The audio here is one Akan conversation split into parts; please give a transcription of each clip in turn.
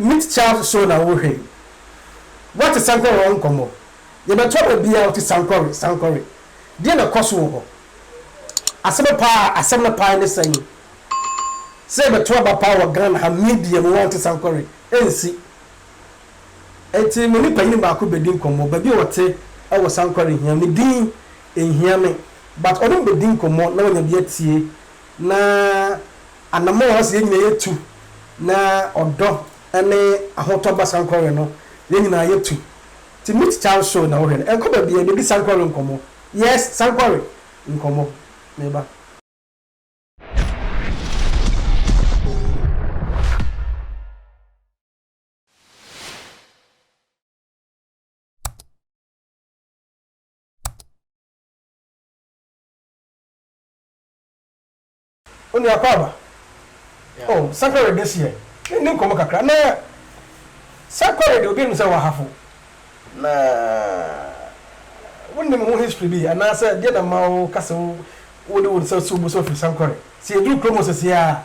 Meet Child Show na wohwɛ yi. Woate sankɔre ho nkɔmmɔ? Yɛbɛtoa ma biaa ɔte sankɔre, sankɔre. Deɛn na ɛkɔ so wɔ hɔ? Asɛm paa, asɛm no paa ne sɛn? Sɛ yɛbɛto aba paa wɔ Ghana ha media mu woante sankɔre, ɛnsi. Enti me ne panyin baako bedi nkɔmmɔ, baabi a ɔte wɔ Sankore nhia me din nhia me but ɔne me bedi nkɔmmɔ na wanya bi atie na anamɔn a ɔse yɛn nyinaa yɛtu na ɔdɔ ne ahotɔ ba Sankore no yɛn nyinaa yɛtu nti Meet Charles show na wohwɛ no ɛnkɔ baabiara yɛbedi Sankore nkɔmmɔ yes Sankore nkɔmmɔ meba. onua kwaba o oh, sakore de seɛ ne nkɔmmɔ kakra na sakore de obi anim sɛ wahafo na wonim ho history bi anaasɛ deɛ na ma wo ka sɛ wode wo nsa si wo bo sɛ ɔfiri sankore sɛ yɛduru kurom sɛseɛ a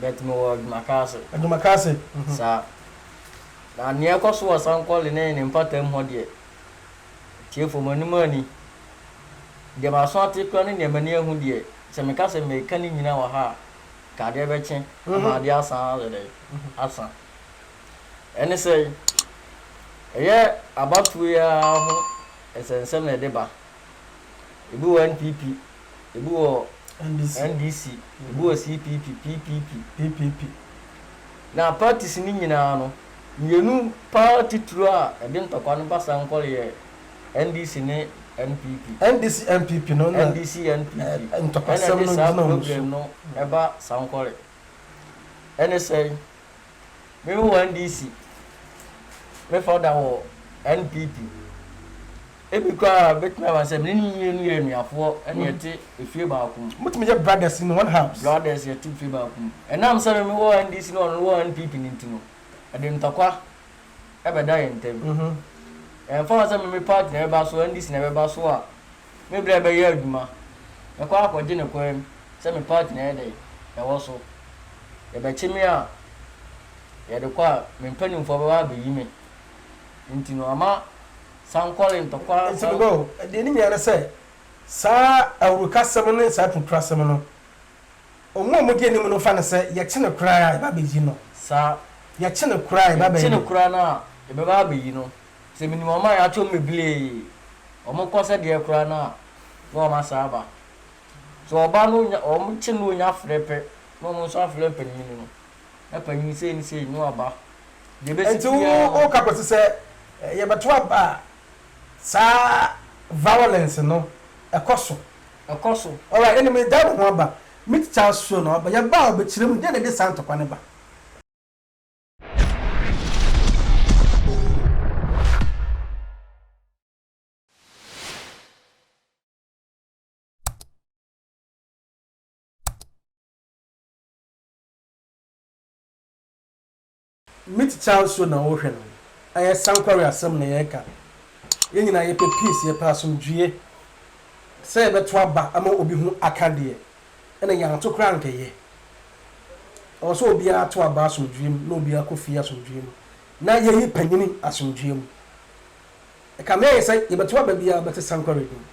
But me wɔ Adwumakase. Adwumakase? Mhm. Saa. Na nea ɛkɔ so wɔ Sankɔle ne ne mpataam hɔ deɛ, atiefo mo anim anni. Deɛ maso ate koraa ne nea m'ani ahu deɛ, sɛ meka sɛ mereka ne nyinaa wɔ ha a, nka adeɛ bɛkye ama Mhm. adeɛ asan ayɛ dɛn? Asa. Ɛne sɛ, ɛyɛ abatoɔ yi ara ho nsɛnsɛm na ɛde ba. Ebi wɔ NPP, ebi wɔ NDC, ebi wɔ CPP, PPP, PPP. Na parties no nyinaa no, mmienu pa ara titiriw a ɛde ntɔkwa no ba Sankore yɛ NDC ne NPP. NDC NPP no na NDC NPP, ntɔkwasɛm no gyina wɔn so. Ɛna ɛde saa problem no ba Sankore. Ɛne sɛn? Me wɔ NDC, me founder wɔ NPP. Ebi koraa a ebetumi aba sɛ me ne ne mmienu yɛ anuafoɔ ɛna yɛte efie baako mu. Motumi yɛ brothers in one house. Brothers yɛte efie baako mu. Ɛnam sɛ me me wɔ NDC na ɔno wɔ NPP no nti no, ɛde ntɔkwa ɛbɛda yɛn ntam. Ɛmfa ho sɛ me me party na ɛbɛba so, NDC na ɛbɛba so a, Me berɛ bɛyɛ adwuma. Mɛkɔ akɔgye no kwan mu sɛ me part na ɛyɛ dɛn? Ɛwɔ so. Yɛbɛkye me a, yɛde kɔ a, me mpanimfoɔ bɛba abɛyi me. Enti no, ama sankɔre ntɔkwa a. Enti meba o. Deɛ ɛnim yɛ ara ne sɛ, saa awurukasɛm ne saa apirekurasɛm no, wɔn a wɔdi anim no fa no sɛ, yɛkye no koraa a, yɛba abɛyi no. Saa. Yɛkye no koraa a, yɛba abɛyi no. Yɛkye no koraa no a, yɛbɛba abɛyi no. Sɛ minim wɔn a yɛato wɔn bebree, wɔkɔ sɛ deɛ koraa no a, na wɔn asan aba. Sɛ wɔba no nya wɔkye no nya frɛ pɛ na wɔn nso afrɛ mpanin no, na panin sei ne sei na wɔaba. Deɛ ɛbɛsi Enti wo biara no, woka kɔsi sɛ eh, yɛbɛto aba a saa violence no ɛkɔ so. ɛkɔ so. Alright, ɛnna medan me ho aba. Mititsa Asuo no, ɔbɛyɛ ba a ɔbɛkyerɛ mu. Deɛn na ɛde saa ntɔkwa no ba? Mitt Charles so na wohwɛ no? Ɛyɛ sankware asɛm na yɛreka. Yɛn nyinaa yɛpɛ peace, yɛpɛ asomdwoeɛ. Sɛ yɛbɛto aba ama obi ho aka deɛ, Ɛna yɛanto koraa ankɛyɛ. Ɛwɔ sɛ obiara to aba asomdwoeɛ mu na obiara kɔ fie asomdwoeɛ mu na yɛyi panyini asomdwoeɛ mu. Ɛkame ayɛ sɛ yɛbɛto aba biara bɛte sankɔre din.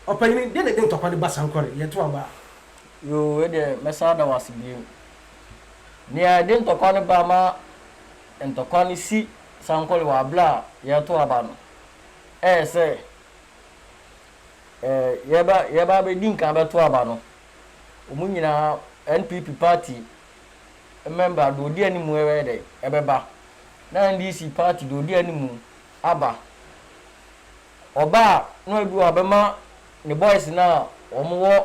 Ɔpanyini, deɛ na ɛde ntɔkwa no ba sankɔre, yɛto aba a? Yoo, wei deɛ mɛsan ada wo ase bio. Deɛ ɛde ntɔkwa no ba ma ntɔkwa no si sankɔre wɔ aberɛ a yɛreto aba no, ɛyɛ sɛ yɛba yɛba abɛdi nkan abɛto aba no, wɔn nyinaa NPP party mmɛmba deɛ ɔdi anim ɛbɛyɛ dɛ ɛbɛba na NDC party deɛ ɔdi anim aba. Ɔbaa na ebi wɔ hɔ a ɔbɛma ne boys no a wɔn wɔ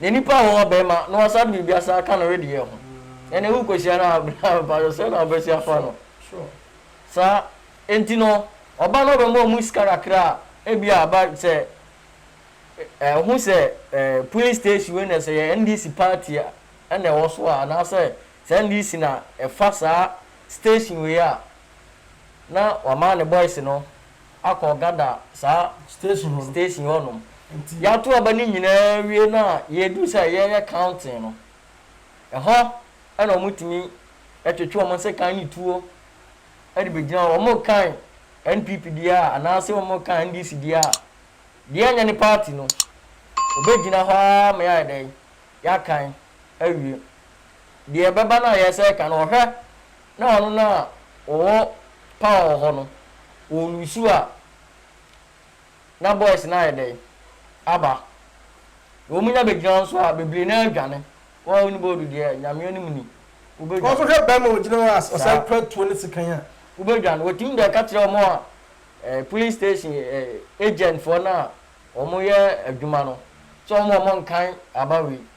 Na nipa ho ɔbɛma na wasa de biribi asan aka ne wedeɛ ho ɛne wo kɔhyia no a bra mpakyɛ sɛ na wobɛsi afa no saa enti no ɔba na ɔbɛma ɔmu sika kakra a ebi a ba sɛ ɛho sɛ police station wei na sɛ yɛ NDC party a ɛna ɛwɔ so a anaasɛ sɛ NDC na ɛfa saa station wei a na wama ne boys no akɔ Gada saa station hɔ no. Station hɔ nom. Nti. Y'ato aba no nyinaa wie no a, yɛreduru sɛ yɛreyɛ counting no, ɛhɔ ɛna wɔn tumi ɛtwetwe wɔn nsekan ne tuo ɛde bɛ gyina hɔ. Wɔn rekan NPP deɛ a, anaa se wɔn rekan NDC deɛ a, deɛ ɛnyɛ ne party no, ɔbɛ gyina hɔ ara ma yɛayɛ dɛn? Y'akan awie. Deɛ ɛbɛba no a yɛresɛ ɛka no, ɔhwɛ Na wɔn no a wɔwɔ power wɔ hɔ no wɔn nusu a na boys no ayɛ dɛn aba na wɔn nya bɛ gyina nso a bebree no ara dwane wɔn a wɔn ni bɔɔdu deɛ nyame anim ni wo bɛ dwane. Wɔn nso hwɛ bɛɛma ɔgyina hɔ a ɔsan kura tuo ne sekan a. Wo bɛ dwane wɔtumi de ka kyerɛ wɔn a eh police station eh agent foɔ no a wɔn yɛ adwuma no sɛ wɔn wɔn nkan aba wei.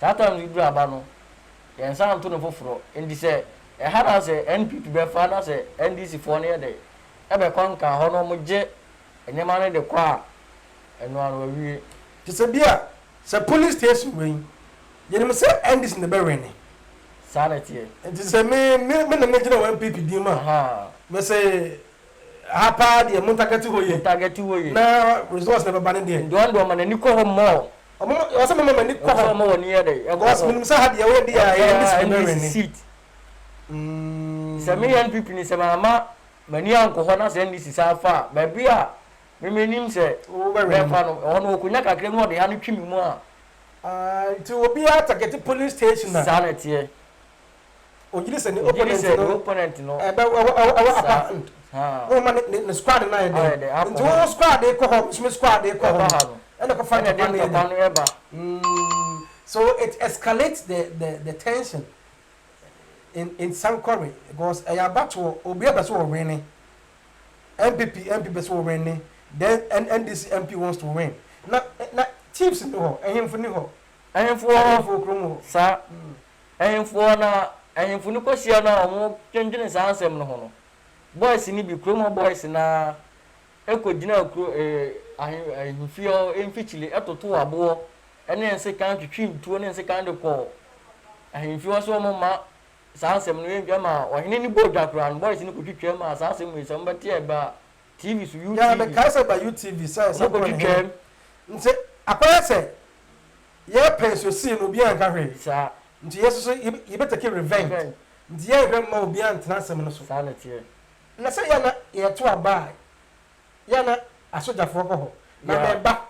Saa time no yi duru aba no, yɛnsan nto no foforɔ. Nti sɛ ɛha na sɛ NPP bɛfa na sɛ NDC foɔ no yɛ dɛ ɛbɛ kɔnkan hɔ na wɔn gye nneɛma no de kɔ a, ɛnoa no wawie. Te sɛ bi a sɛ police station wɛn, yɛnim sɛ NDC na ɛbɛ wɛne. Saa na ɛteɛ. Nti sɛ me, me, me na me gyina wɔ NPP din mu a, Ahaa. me se ha paa deɛ mo ntargɛte hɔ yie. Mo ntargɛte hɔ yie. Na results na ɛbɛba no deɛ. Nti wɔn deɛ wɔn ani kɔ hɔ more Ɔsɛ moma mo ani kɔ hɔ. Ɔmoma wɔn ani yɛ dɛ. Because menim sɛ ha deɛ woyɛ deɛ a ɛyɛ NDC bɛ wɛni. NDC seat. Sɛ me yɛ NPP ni sɛ ma ama m'ani ankɔ hɔ na sɛ NDC san fa a baabi a me me nim sɛ bɛfa no ɛhɔ no ɔkɔnya kakra mu ɔde ano twi me mu a. Nti obiara target polling station a. Saa na ɛteɛ. Ogyiri sɛ ne opponent no wɔ upper hand. Wo ma ne squad no ayɛ dɛn? Nti wo squad kɔ hɔ, nso me squad kɔ hɔ no, ɛna ɛkɔ fa ntɔkwa no yɛ ba. So it escalates the the the tension in in Sankore because ɛyɛ abatoɔ, obiara pɛ sɛ wɔ winne. NPP MP pɛ sɛ wɔ winne, then NDC MP wants to win. Na na chiefs ni hɔ, ɛhemfo ni hɔ. Ɛhemfo wɔ hɔ, ɛhemfo wɔ kurom hɔ. Saa. Ahemfo hɔ na ahemfo no kɔhyia no a wɔdwendwene saa nsɛm no ho no, boys no bi, kurom hɔ boys no ara kɔgyinaa kuro, ahe, ahemfie hɔ mfikyire totoo aboɔ ne nsekan, twitwii ntuo ne nsekan de kɔɔ ahemfie hɔ sɛ wɔmma saa nsɛm no yɛntwa ma ɔhene no bɔɔ dwa koraa no, boys no kɔtwitwaa mu a saa asɛm wei sɛ mobɛte a ɛba TV so, UTV, Yaa, mekaa sɛ ɛba UTV sɛ wɔkɔtwitwaa mu. Nti, akɔyɛ sɛ. Yɛɛ pɛn so see no obiaa nka hwee saa nti yɛ nso so yɛ bɛ take revenge nti yɛ nhwɛ mma obiaa ntena asɛm no so saa na ɛteɛ na sɛ yɛ na yɛ to aba a yɛ na asogyafoɔ kɔ hɔ na mɛ ba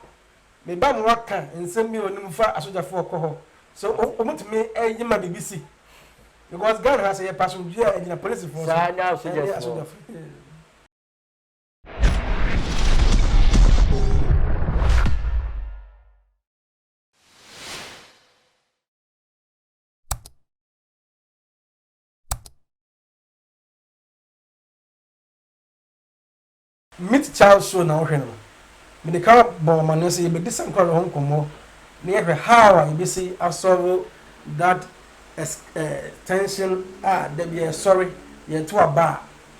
me ba mo wa ka nsɛm bi a onim fa asogyafoɔ kɔ hɔ sɛ ɔmo tumi yɛ ma biribi si because Ghana ha sɛ yɛ pɛ asomdwie a ɛgyina polisifoɔ so ɛnyɛ asogyafoɔ. Meet Child Show na wohwɛ no. Mede ka bɔ amanneɛ sɛ yɛbɛdi sankore no ho nkɔmmɔ na yɛahwɛ how a yɛbɛsi asɔre that tension a da biara ɛsɔre, yɛto aba a